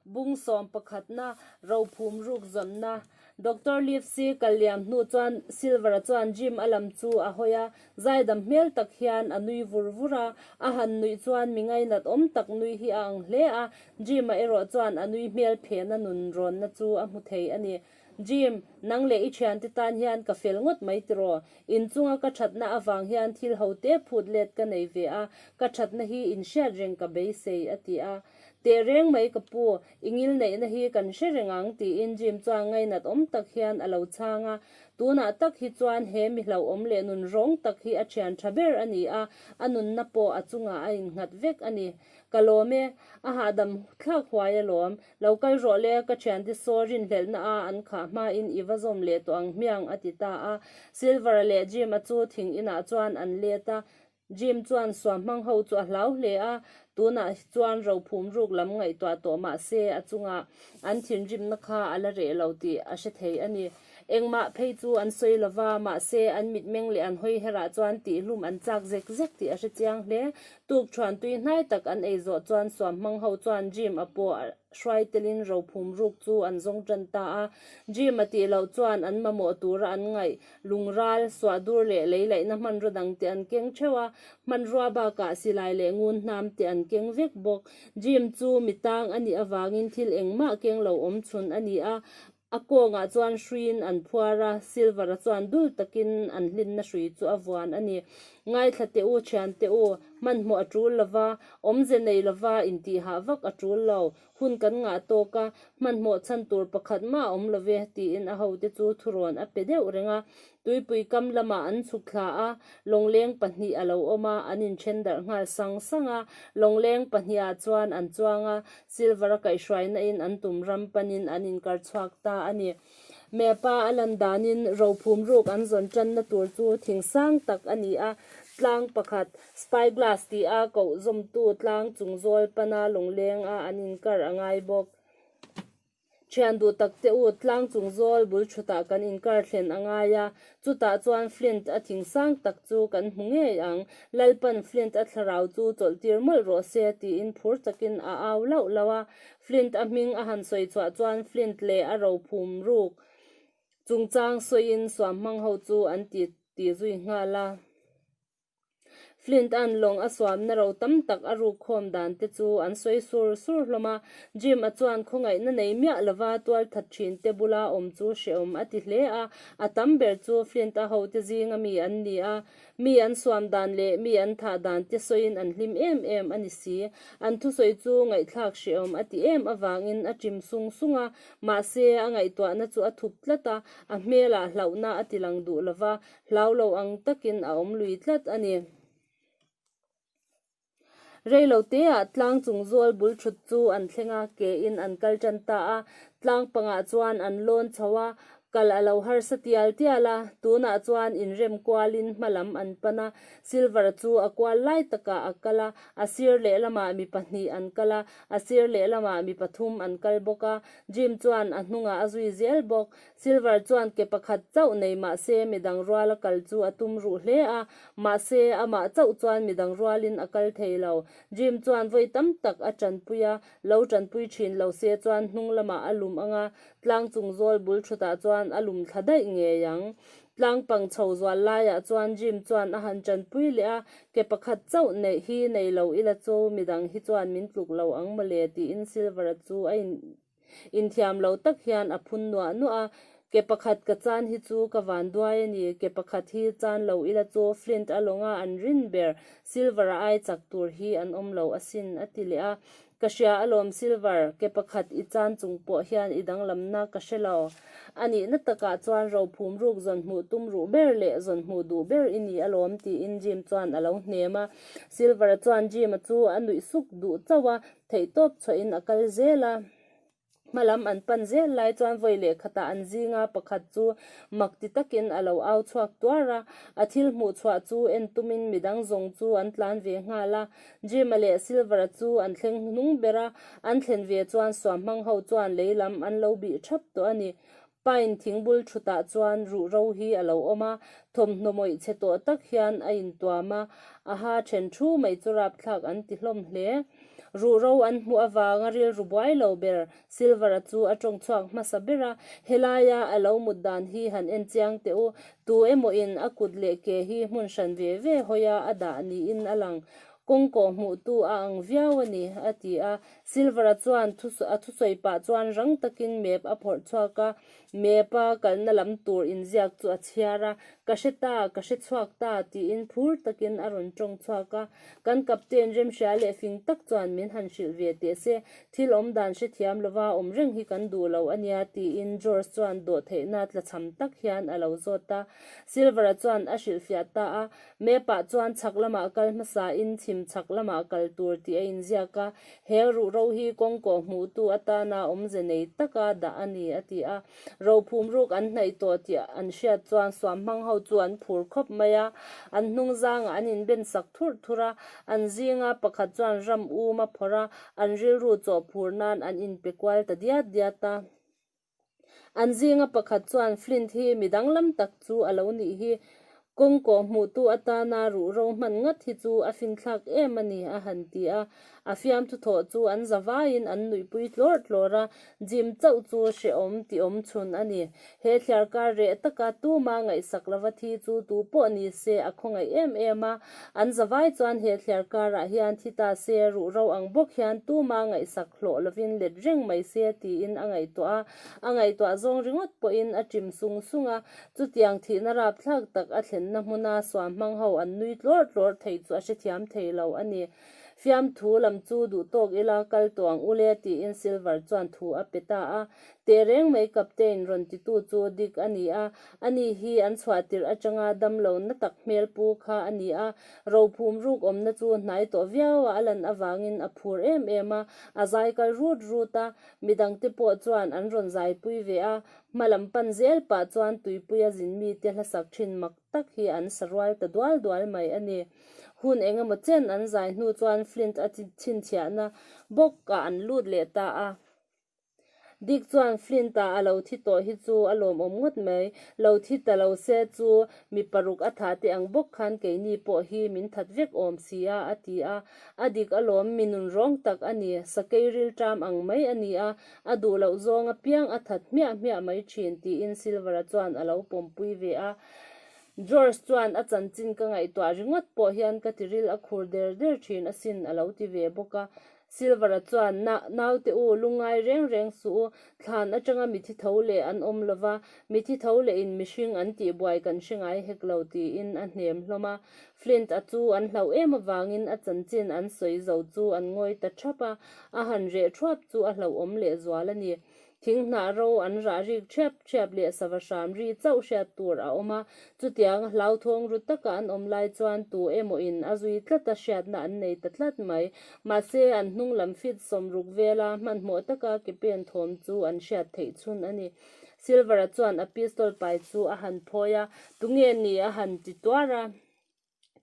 Bung sawm pakhatna, rophum ruk zawnna. Doctor Livesey kal liam hnu chuan Silver-a chuan Jim a lam chu a hawi a, zaidam hmel tak hian a nui vur vur a. A han nuih chuan mi ngainat awm tak nui hi a ang hle a. Jim-a erawh chuan a nui hmel phehna nun rawnna chu a hmu thei a ni. Jim, nang leh i thiante tan hian ka fel ngawt mai tiraw? Inchunga ka thatna avang hian thil ho te phut let ka nei ve a, ka thatna hi in hriat reng ka beisei, a ti a. Teh reng mai ka pu, i ngil neihna hi kan hre reng ang, tiin Jim chuan ngainat awm tak hian a lo chhang a. Tunah tak hi chuan he mi hlauhawm leh nun rawng tak hi a thian tha ber a ni a, a nunna pawh a chungah a in nghat vek a ni. Ka lawm e, a hahdam thlak huai alawm. Lo kal rawh le, ka thiante saw rinhlelhna a an khah hmain i va zawm leh tawh ang hmiang, a ti ta a. Silvera leh Jim-a chu thing inah chuan an let a. Jim chuan suam hmang ho chu a hlau hle a, tunah chuan rophum ruk lam ngaihtuah tawh mah se a chungah an thinrimna kha a la reh lo tih a hre thei a ni. Engmah phei chu an sawi lova, mahse an mitmeng leh an hawiherah chuan tihlum an chak zek zek tih a hre chiang hle. Tuk chhuan tui hnai tak an ei zawh chuan suam hmang ho chuan Jim a paw a hruai telin ro phum ruk chu an zawng tan ta a. Jim a tih loh chuan an mamawh tura an ngaih. Lungral, suahdur leh lei laihna hmanraw dang te an keng theuh a, hmanrua bakah silai leh ngun hnam te an keng vek bawk. Jim chu mi tang a nih avangin thil engmah keng lo awm chhun a ni a. A kawngah chuan hruiin an phuar a, silver-a chuan dul takin an hlinna hrui chu a vuan a ni. Ngaithla teh u, thian teh u, hmanhmawh a tul lo va, awmze nei lo va intihah vak a tul lo. Hun kan ngah tawk a, hmanhmawh chhan tur pakhat mah awm lo ve, tiin a hote chu thurawn a pe deuh reng a. Tuipui kam lamah an chhuk thla a, lawngleng pahnih a lo awm a, an inthen darh nghal sang sang a. Lawngleng pahniha chuan an chuang a, silver-a kaihhruainain an tum ram panin an inkar chhuak ta a ni. Map-a a lan danin rophum ruk an zawn tanna tur chu thing sang tak a ni a, tlang pakhat, spyglass tih a kohzawmtu tlang chungzawl pana lawnglenga an inkar a ngai bawk. Thian duh takte u, tlang chung zawl bul thutah kan inkar thlen a ngai a, chutah chuan Flint a thing sang tak chu kan hmu ngei ang. Lalpan Flint a thlarau chu chawlhtir mawlh rawh se tiin phur takin a au lauh lauh a. Flint a hming a han sawi chhuah chuan Flint leh a rophum ruk chungchang sawiin suam hmang ho chu an ti ti zui nghal a. Flint a'n lawng a suamna ro tam tak a ruk khawm dan te chu an sawi sur sur hlawm a. Jim a chuan khawngaihna nei miah lova tual that thin te bula awm chu hrehawm a ti hle a. A tam ber chu Flint a hote zinga mi an ni a. Mi an suam dan leh mi an thah dan te sawiin an hlim em em a ni si. An thusawi chu ngaihthlak hrehawm a ti em avangin a chim sung sung a. Mahse, a ngaihtuahna chu a thup tlat a. A hmel ah hlauhna a ti lang duh lova, Hlau lo ang takin a awm lui tlat a ni. Reilo teah tlang chungzual bul thut chu an thleng a, ke in an kal tan ta a, tlang pangah chuan an lawn chho a, kal a lo harsa tial tial a. Tunah chuan inrem kualin hma lam an pan a, Silver chu a kual lai takah a kal a, a sir leh lamah mi pahnih an kal a, a sir leh lamah mi pathum an kal bawk a, Jim chuan a hnungah a zui zel bawk. Silver chuan ke pakhat chauh nei mahse midang ruala kal chu a tum ruh hle a, mahse amah chauh chuan midang rualin a kal thei lo. Jim chuan vawi tam tak a ṭanpui a, lo ṭanpui ṭhin lo se chuan hnung lamah a lum ang a, tlang chung zawl bul ṭhutah chuan a lum thla daih ngei ang. Tlang pang chho zual laiah chuan Jim chuan a han ṭanpui leh a, ke pakhat chauh neih hi nei lo ila chu midang hi chuan min tluk lo ang mawle tiin Silver-a chu a in Inthiam lo tak hian a phun nuah nuah a, Ke pakhat ka chan hi chu ka vanduai a ni, ke pakhat hi chan lo ila chu Flint a lawnga an rin ber, Silver a ai chak tur hi an awm lo asin, a ti leh a. Ka hria alawm Silver, ke pakhat i chan chung pawh hian i danglamna ka hre lo. A nihna takah chuan rophum ruk zawn hmuh tum ruh ber leh zawn hmuh duh ber i ni alawm tiin Jim chuan a lo hnem a. Silver-a chuan Jim-a chu a nuih suk duh chauh a, theih tawp chhuahin a kal zel a. Hma lam an pan zel lai chuan vawi leh khatah an zinga pakhat chu mak ti takin a lo au chhuak tuar a. A thil hmuh chhuah chu en tumin midang zawng chu an tlan ve nghal a. Jim-a leh Silver-a chu an thleng hnung ber a. An thlen ve chuan suam hmang ho chuan lei lam an lo bih thap tawh a ni. Pine thing bul thutah chuan ruhro hi a lo awm a, thawmhnaw mawih chhe tawh tak hian a intuam a, a ha ṭhen ṭhu mai chu rapthlak an ti hlawm hle. Ruhro an hmuh avanga rilru buai lo ber Silvera chu a ṭawngchhuak hmasa ber a, helaia a lo mut dan hi han en chiang teh u, tu emawiin a kut leh ke hi hmun hran ve ve hawia a dah niin a lang. Kawngkawh hmuhtu a ang viau a ni, a ti a, Silver-a chuan a thusawi pah chuan rang takin map a phawrh chhuak a, map-a kalna lam tur inziak chu a chhiar a, Ka hre ta, ka hre chhuak ta, tiin phur takin a rawn tawng chhuak a. Kan captain remhria leh fing tak chuan min han hrilh ve teh se, thil awm dan hrethiam lova awm reng hi kan duh lo a nia, tiin George chuan dawhtheihna tlachham tak hian a lo zawt a. Silver-a chuan a hrilhfiah ta a. Map-ah chuan chhak lamah kal hmasain chhim chhak lamah kal tur tih a inziak a, he ruhro hi kawng kawh hmuhtu atana awmze nei taka dah a ni, a ti a. Rophum ruk an hnaih tawh tih an hriat chuan suam hmang ho chu an phur khawp mai a, an hnungzangah an inben sak thurh thur a, an zinga pakhat chuan ram um a phawrh a, an rilru chawhphur nan an inpe kual ta diat diat a. An zinga pakhat chuan Flint hi mi danglam tak chu a lo nih hi, kawng kawh hmuhtu atana ruh ro hman ngat hi chu a finthlak em a ni, a han ti a. A fiamthu thawh chu an zavaiin an nuihpui tlawr tlawr a, Jim chauh chu hrehawm tiawm chhun a ni. He thliarkar reh taka tuma ngaihsak lova thi chu tupawh ni se a khawngaih em em a, An zavai chuan he thliar karah hian thita se ruh ro ang bawk hian tuma ngaihsak hlawh lovin let reng mai se tiin a ngaihtuah a, a ngaihtuah zawng ringawt pawhin a chim sung sung a, chutiang thihna rapthlak tak a thlenna hmuna suam hmang ho an nui tlawr tlawr thei chu a hrethiam thei lo a ni. Fiamthu lam chu duhtawk ila kal tawh ang ule tiin Silver chuan thu a pe ta a, Teh reng mai kapte in rawn ti tu chu Dick a ni a, a ni hi an chhuah tirh atanga dam lo na tak hmel pu kha a ni a, rophum ruk awmna chu hnai tawh viau a, a lan avangin a phur em em a, a zai kal rut rut a, mi dang te pawh chuan an rawn zai pui ve a, hma lam pan zel pah chuan tuipui a zin mi te hlasak thin mak tak hi an sa rual ta dual dual mai a ni, hun eng emaw chen an zai hnu chuan Flint a chhinchhiahna bawk ah an lut leh ta a. Dick chuan Flint-a a lo thi tawh hi chu a lawmawm ngawt mai. Lo thi ta lo se chu mi paruk a thah teh ang bawk khan keini pawh hi min that vek awm si a, a ti a. A dik a lawm, mi nun rawng tak a ni, sakei rilṭam ang mai a ni a, a duh loh zawng apiang a that hmiah hmiah mai ṭhin, tiin Silver-a chuan a lo pawmpui ve a. George chuan a chanchin ka ngaihtuah ringawt pawh hian ka tiril a khur der der ṭhin asin a lo ti ve bawk a. Silvera chuan, Na, naute u, lungngai reng reng suh u. Thlan atanga mithi tho leh an awm lo va, mithi tho leh in mihring an tih buai kan hre ngai hek lo, tiin a hnem hlawm a. Flint a chu an hlauh em avangin a chanchin an sawi zo chu an ngawi ta thap a, a han reh thuap chu a hlauhawm lehzual a ni. Thing hnah ro an rah rik ṭhiap ṭhiap leh sava hram ri chauh hriat tur a awm a. Chutianga hlauthawng ru taka an awm lai chuan tu emawiin a zui tlata hriatna an nei ta tlat mai. Mahse, an hnunglam fit sawm ruk vela hmanhmawh taka ke pen thawm chu an hriat theih chhun a ni. Silver-a chuan a pistol pai chu a han phawi a, tunge nih a han ti tuar a?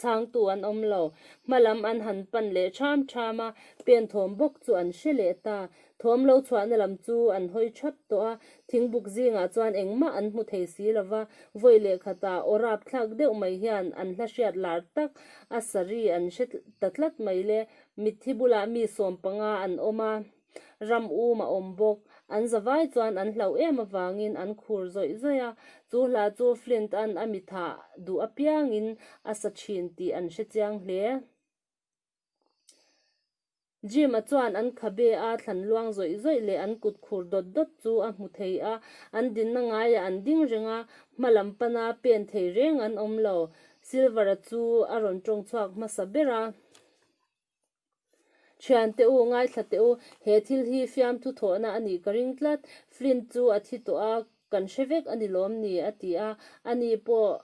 chhangtu an awm lo. Hma lam an han pan leh ṭham ṭham a, pen thawm bawk chu an hre leh ta. Thawm lo chhuahna lam chu an hawi ṭhap tawh a, thing buk zingah chuan engmah an hmu thei si lo va, vawi leh khata aw rap thlak deuh mai hian an hla hriat lar tak a, saree an hre ta tlat mai le, mit hi bulah mi sawm panga an awm a, Ram um a awm bawk. An zavai chuan an hlauh em avangin an khur zawih zawih a. Chu hla chu Flint an a mitha duh apiangin a sa thin tih an hre chiang hle. Jim a chuan an khabe a thlan luang zawih zawih leh an kut khur dawt dawt chu a hmu thei a. An dinna ngaiah an ding reng a, hma lam pana pen thei reng an awm lo. Silver-a chu a rawn tawng chhuak hmasa ber a. Thian teh u, ngaithla teh u, he thil hi fiamthu thawhna a nih ka ring tlat. Flint chu a thi tawh a, kan hre vek a ni lawm ni? a ti a, a ni pawh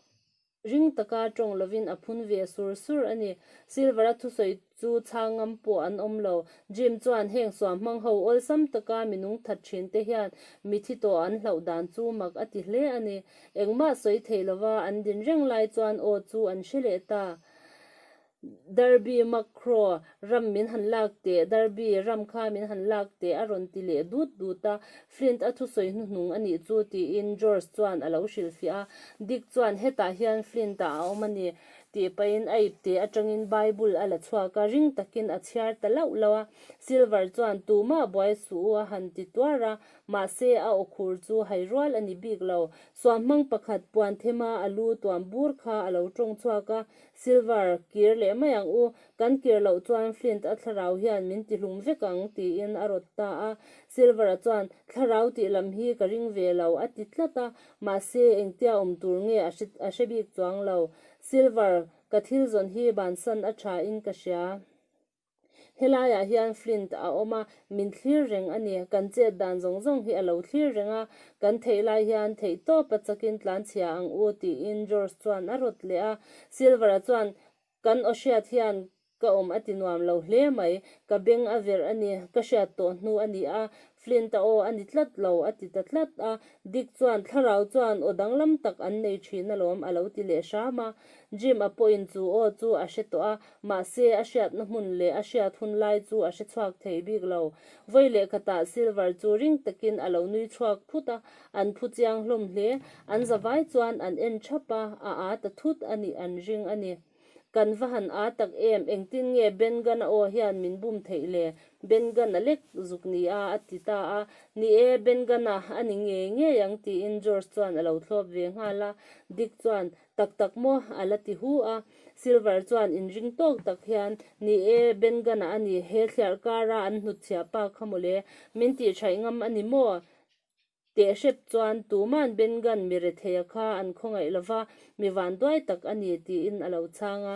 ring taka tawng lovin a phun ve sur sur a ni. Silver-a thusawi chu chhang ngam pawh an awm lo. Jim chuan heng suam hmang ho awlsam taka minung that thin te hian mi thi tawh an hlauh dan chu mak a ti hle a ni. Engmah sawi thei lova an din reng lai chuan aw chu an hre leh ta. Derby Macro ram min han lak teh, Derby ram kha min han lak teh a rawn ti leh dut dut a, Flint a thusawi hnuhnung a nih chu tiin George chuan a lo hrilhfiah a. Dick chuan hetah hian Flint a awm a ni tih pahin a ip teh atangin Bible a la chhuak a, ring takin a chhiar ta lauh lauh a. Silver chuan tumah buai suh u a han ti tuar a, mahse a aw khur chu hai rual a ni bik lo. Suammang pakhat puanthe hma a lu tuam bur kha a lo tawng chhuak a, Silver, Kir leh mai ang u, kan kir loh chuan Flint a thlarau hian min ti hlum vek ang, tiin a rawt ta a. Silver-a chuan, Thlarau tih lam hi ka ring ve lo, a ti tlat a. Mahse, engtia awm tur nge a hre, a hre bik chuang lo. Silver, Ka thil zawn hi Bansan a thain ka hria. Helaiah hian Flint a awm a, min thlir reng a ni. Kan chet dan zawng zawng hi a lo thlir reng a, kan theih lai hian theih tawp a chakin tlanchhia ang u, tiin George chuan a rawt leh a. Silver-a chuan, Kan aw hriat hian ka awm a ti nuam lo hle mai. Ka beng a verh a ni, ka hriat tawh hnu a ni a. Flint-a aw a ni tlat lo, a ti ta tlat a. Dick chuan, Thlarau chuan aw danglam tak an nei thin alawm, a lo ti leh hram a. Jim-a pawhin chu aw chu a hre tawh a. Mahse, a hriatna hmun leh a hriat hun lai chu a hre chhuak thei bik lo. Vawi leh khatah Silver chu ring takin a lo nui chhuak phut a, an phu chiang hlawm hle. An zavai chuan an en thap a, a â ta thut a nih an ring a ni. Kan va han â tak em, engtin nge Ben Gunn-a aw hian min bum theih le? Ben Gunn a lek zuk nia a ti ta a. Ni e, Ben Gunn-a a ni ngei ngei ang tiin George chuan a lo thlawp ve nghal a. Dick chuan, Tak tak maw? a la ti hu a. Silver chuan in ring tawk tak hian, Ni e, Benga-na a ni, he thliar kara an hnutchhia pa kha maw le? Min tih thaih ngam a ni maw? Teh hrep chuan, Tuman Benga-n mi retheia kha an khawngaih lova, mi vanduai tak a ni, tiin a lo chhang a.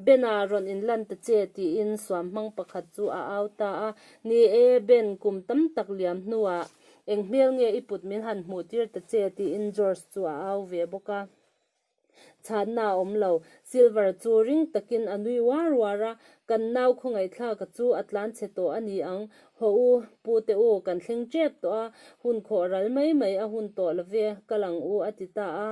Ben-a rawn in lan ta che, tiin suam hmang pakhat chu a au ta a, Ni e, Ben, kum tam tak liam hnuah eng hmel nge i put min han hmuh tir ta che, tiin George chu a au ve bawk a. Chhatna a awm lo. Silver chu ring takin a nui uar uar a, Kan nau khawngaihthlaka chu a tlan chhe tawh a ni ang. Haw u, pute u, kan thleng tep tawh a, hun khawh ral mai mai a hun tawh lo ve, ka lang u, a ti ta a.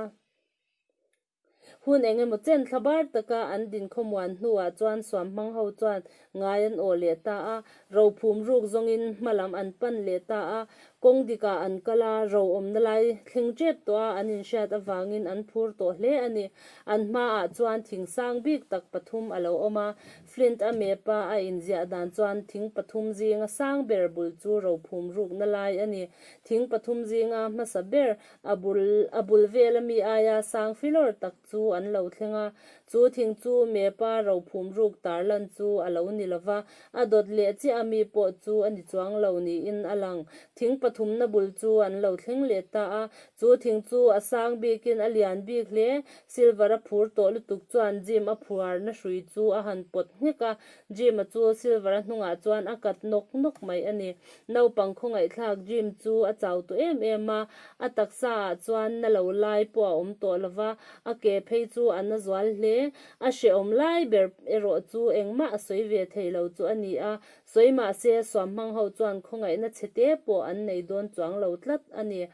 Hun eng emaw chen thla bar taka an din khawmuan hnuah chuan suam hmang ho chuan ngai an aw leh ta a, ro phum ruk zawngin hma lam an pan leh ta a, kawng dikah an kal a, ro awmna lai thleng tep tawh a, an inhriat avangin an phur tawh hle a ni. An hmaah chuan thing sang bik tak pathum a lo awm a, Flint a map a a inziah dan chuan thing pathum zinga sang ber bul chu ro phum rukna lai a ni, thing pathum zinga hmasa ber A bul a bul vel a mi aia sang filawr tak chu an lo thleng a, chu thing chu Mepa rophum ruk tarlan chu a lo ni lo va, a dawt leh chiah a mi pawh chu a ni chuang lo niin a lang. Thing pathumna bul chu an lo thleng leh ta a, chu thing chu a sang bikin a lian bik hle. Silver a phur tawh lutuk chuan Jim-a phuarna hrui chu a han pawt nghek a, Jim-a chu Silver-a hnungah chuan a kat nawk nawk mai a ni. Naupang khawngaihthlak Jim chu a chau tawh em em a, a taksa-ah chuan na lo lai pawh a awm tawh lo va, a ke phei chu a na zual hle. A hrehawm lai ber erawh chu engmah a sawi ve thei lo chu a ni a, sawi mah se suam hmang ho chuan khawngaihna chhe te pawh an nei dawn chuang lo tlat a ni.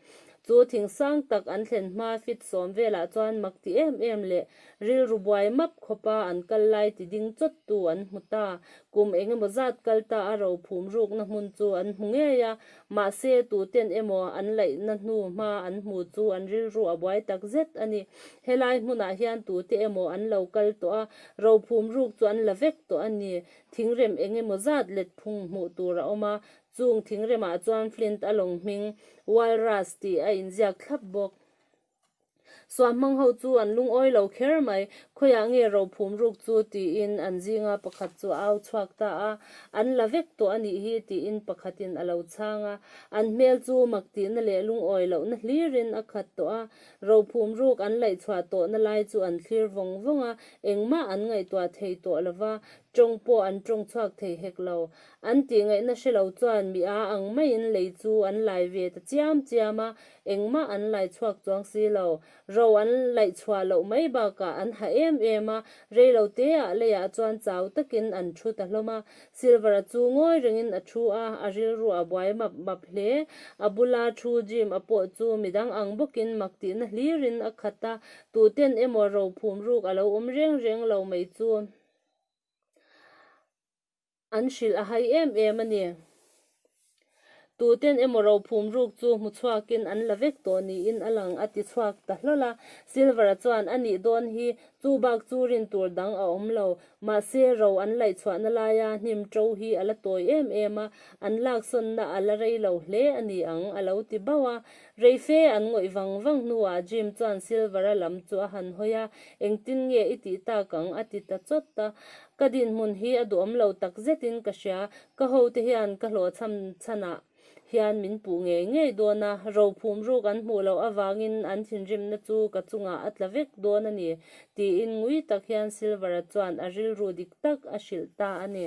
Chu thing sang tak an thlen hma fit sawm velah chuan mak ti em em leh Rilru buai map khawpa an kal lai ti ding chawt tu an hmu ta. Kum eng emaw zat kal ta a ro phum rukna hmun chu an hmu ngei a, mahse tuten emaw an laihna hnu hma an hmu chu an rilru a buai tak zet a ni. Helai hmunah hian tute emaw an lo kal tawh a, ro phum ruk chu an la vek tawh a ni. Thingrem eng emaw zat letphung hmuh tur a awm a, chung thingremah chuan flint a lawng hming, walrus tih a inziak thlap bawk. Suah hmang ho chu an lungawi lo kher mai. Khawiah nge ro phum ruk chu? tiin an zinga pakhat chu a au chhuak ta a. An la vek tawh a nih hi tiin pakhatin a lo chhang a. An hmel chu mak tihna leh lungawi lohna hlirin a khat tawh a. Ro phum ruk an laih chhuah tawhna lai chu an thlir vawng vawng a, engmah an ngaihtuah thei tawh lo va, tawng pawh an tawng chhuak thei hek lo. An tihngaihna hre lo chuan mi aa ang maiin lei chu an lai ve ta chiam chiam a, engmah an laihchhuak chuang si lo. Ro an laihchhuah loh mai bakah an ha em em a, rei lo teah leiah chuan chau takin an thu ta hlawm a. Silvera chu ngawi rengin a thu a, a rilru a buai map map hle. A bula thu Jim-a pawh chu midang ang bawkin mak tihna hlirin a khat a, tuhten emaw ro phum ruk a lo awm reng reng lo mai chu. An hrilh a hai em em a ni. Tuten emaw rophum ruk chu hmuchhuakin an la vek tawh niin a lang, a ti chhuak ta hlawl a. Silver-a chuan a nih dawn hi chu bak chu rin tur dang a awm lo. Mahse, ro an laihchhuahna laia hnim to hi a la tawi em em a, an laksawnna a la rei lo hle a ni ang, a lo ti bauh a. Reife an ngawih vang vang hnuah Jim chuan Silver-a lam chu a han hawi a, Engtin nge i tih tak ang? a ti ta chawt a. Ka dinhmun hi a duam lo tak zetin ka hria. Ka hote hian ka hlawh chham chhan ah hian min puh ngei ngei dawn a, ro phum ruk an hmuh loh avangin an thinrimna chu ka chungah a tla vek dawn a ni, tiin ngui tak hian Silvera chuan a rilru dik tak a hrilh ta a ni.